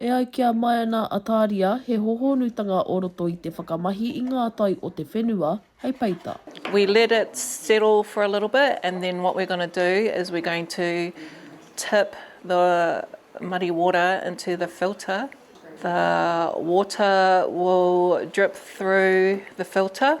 E ai ki a Maena Ataria, he hōhonutanga o roto i te whakamahi i ngā tai o te whenua hei peita. We let it settle for a little bit and then what we're going to do is we're going to tip the muddy water into the filter. The water will drip through the filter.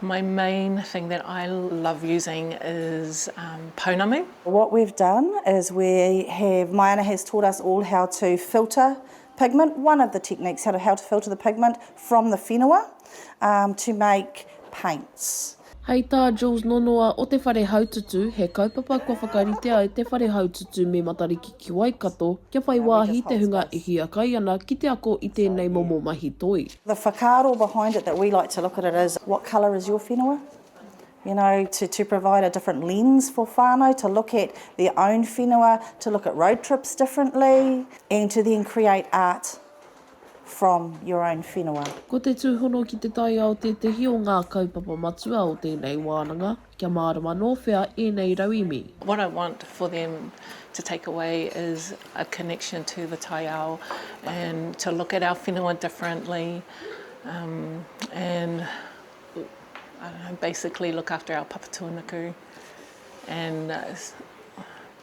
My main thing that I love using is Pounamu. What we've done is we have, Maiana has taught us all how to filter pigment, one of the techniques how to how to filter the pigment from the whenua to make paints. Hei tā Jules Nonoa o Te Whare Haututu, he kaupapa kua whakaritea e Te Whare Haututu me Matariki ki Waikato kia whai wāhi te hunga e hiakai ana ki te ako i tēnei momo mahi toi. The whakaaro behind it that we like to look at it is what colour is your whenua? You know, to to provide a different lens for whānau to look at their own whenua, to look at road trips differently and to then create art from your own whenua. Ko te tūhono ki te taiao tētehi o ngā kaupapa matua o tēnei wānanga. Kia mārama nō whea ēnei rauīmi? What I want for them to take away is a connection to the taiao and to look at our whenua differently um and I don't know, basically look after our papatūānuku and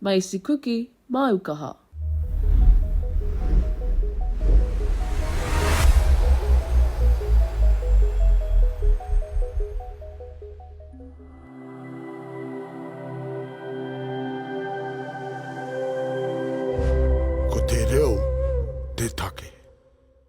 Maisi kuki, māu kaha. Ko te reo te take.